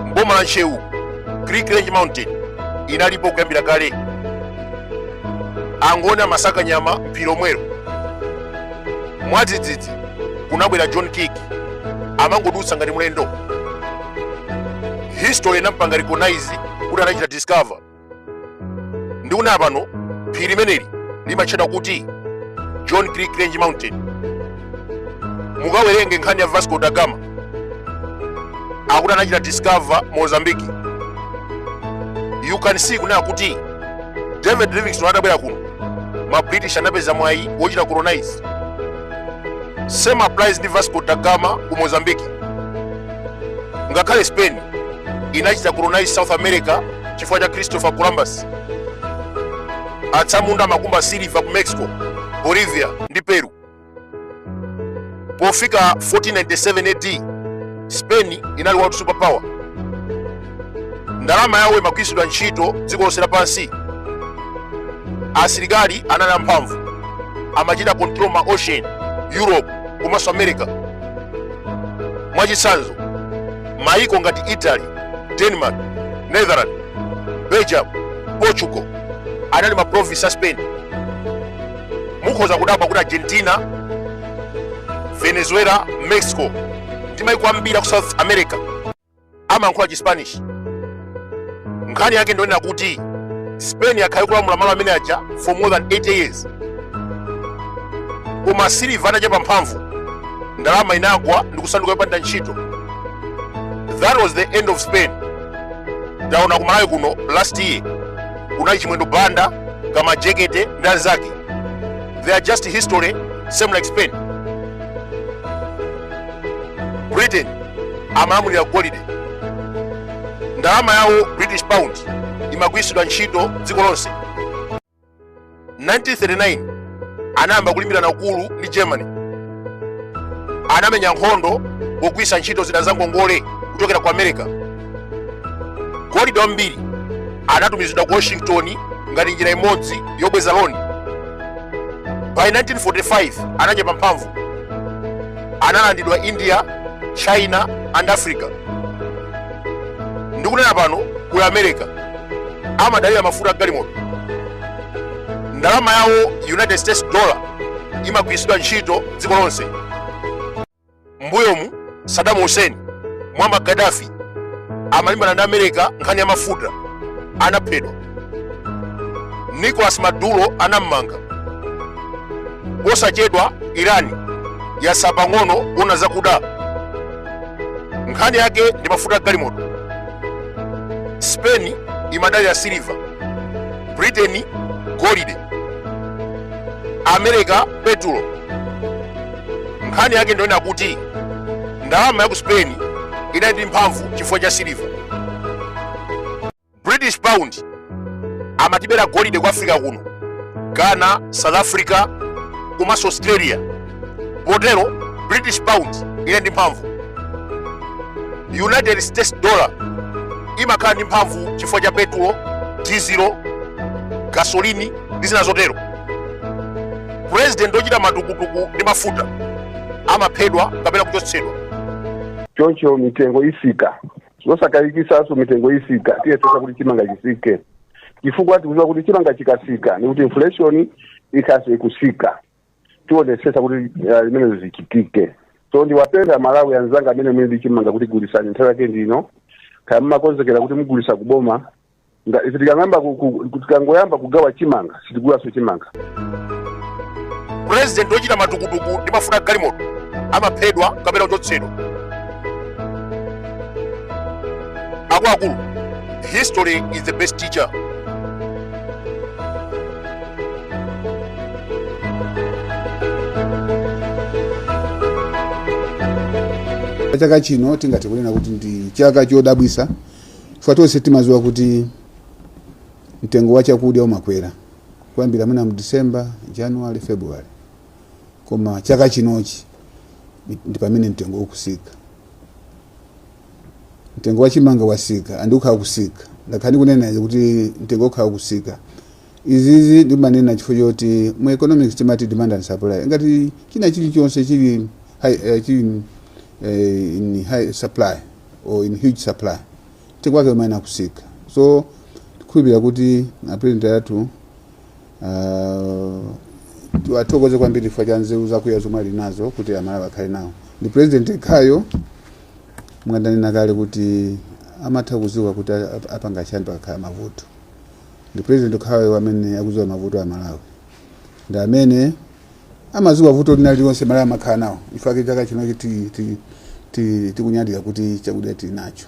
mboma la ntcheu kirk range mountain inalipo kuyambira kale angoni amasaka nyama m'phiri lomwelo mwadzidzidzi kunabwera john kirk amangodutsa ngati mlendo history inampanga recognize kuti anachita discover ndikunena pano phiri limeneli limatchedwa kuti john kirk range mountain mukawerenge nkhani ya vasco da gama akuti anachita discover mozambique you can see kunena kuti david livingstone atabwera kuno ma british anapeza mwayi wochita colonize same applies ndi vasco da gama ku mozambique ngakhale spain inachita colonize south america chifukwa cha christopher columbus atsamunda amakumba siliva ku mexico bolivia ndi peru pofika 1497 ad spain inali world super power ndalama yawo imagwiritsidwa ntchito dziko lonse lapansi asilikali anali amphamvu amachita control ma ocean europe komanso america mwachitsanzo mayiko ngati italy denmark netherland belgium portugal anali ma province a spain mukhoza kudabwa kuti argentina venezuela mexico ndi mayiko ambiri aku south america amayankhula chispanish nkhani yake ndi yonena kuti spain yakhala ikulamula malo amene aja for more than 80 years koma siliva anachepa mphamvu ndalama inagwa ndi kusanduka yopanda ntchito that was the end of spain taona kumalawi kuno last year kunali chimwendo banda ka majekete ndi anzake they are just history same like spain britain amalamulira golide Ndalama yawo British pound imagwiritsidwa ntchito dziko lonse. 1939 anayamba kulimbirana ukulu ndi Germany. Anamenya nkhondo pogwiritsa ntchito zida za ngongole kuchokera ku America. Golide wambiri anatumizidwa ku Washington ngati njira imodzi yobweza loni. By 1945 anachepa mphamvu analandidwa india china and africa ndikunena pano kuli america amadalira mafuta a galimoto ndalama yawo united states dollar imagwiritsidwa ntchito dziko lonse mbuyomu saddam hussein muammar gaddafi amalimbana ndi america nkhani ya mafuta anaphedwa nicolas maduro anammanga posachedwa irani yasala pang'ono kuona zakuda nkhani yake ndi mafuta a galimoto spain imadalira siliva britain golide america petulo nkhani yake ndiyonena kuti ndalama ya ku spain inali ndi mphamvu chifukwa cha siliva British pound amatibera golide ku africa kuno ghana south africa komanso australia potero british pound inali ndi mphamvu united states dollar imakhala ndi mphamvu chifukwa cha petulo dizilo gasolini ndi zina zotero purezidenti ochita matukutuku ndi mafuta amaphedwa kapena kuchotsedwa choncho mitengo isika zosakayikisaso mitengo isika tiyesesa kuti chimanga chisike chifukwa tikuziwa kuti chimanga chikasika ni kuti inflation ikhaleso ikusika tionesesa kuti uh, zimenezo zichitike so ndiwapempha amalawi anzanga amene muli ndi chimanga kuti gulisani nthawi yake ndino kaya mumakonzekera kuti mugulisa kuboma nga ife tikang'amba ku- ku- ku- tikangoyamba kugawa chimanga sitigulaso chimanga president ochita matukutuku ndi mafuta a galimoto amaphedwa kapena kuchotsedwa akuluakulu history is the best teacher chaka chino tingathe kunena kuti ndi chaka chodabwisa chifukwa tonse timadziwa kuti mtengo wa chakudya umakwera kuyambira mwina mu december january february koma chaka chinochi ndi pamene mtengo ukusika mtengo wa chimanga wasika andi ukhala kusika ndakhala ndikunena izi kuti mtengo ukhala kusika izizi ndimanena chifukwa choti mu economics timati demand and supply ngati china chilichonse chili high, eh, chili eh, in high supply or in huge supply mtengo wake umayenera kusika so tikhulupirira kuti apulezidenti athu ah, tiwathokoze kwambiri chifukwa cha nzeru zakuya zomwe ali nazo kuti amalawi akhale nawo ndi president yekhayo momwe ndanena kale kuti amatha kuziwa kuti a- a- apanga chani pakakhala mavuto ndi president yekhayo amene akuziwa mavuto a amalawi ndi amene amadziwa vuto lina lililonse amalawi amakhala nawo nchifukwa chake chaka chino tikunyadira kuti chakudya tili nacho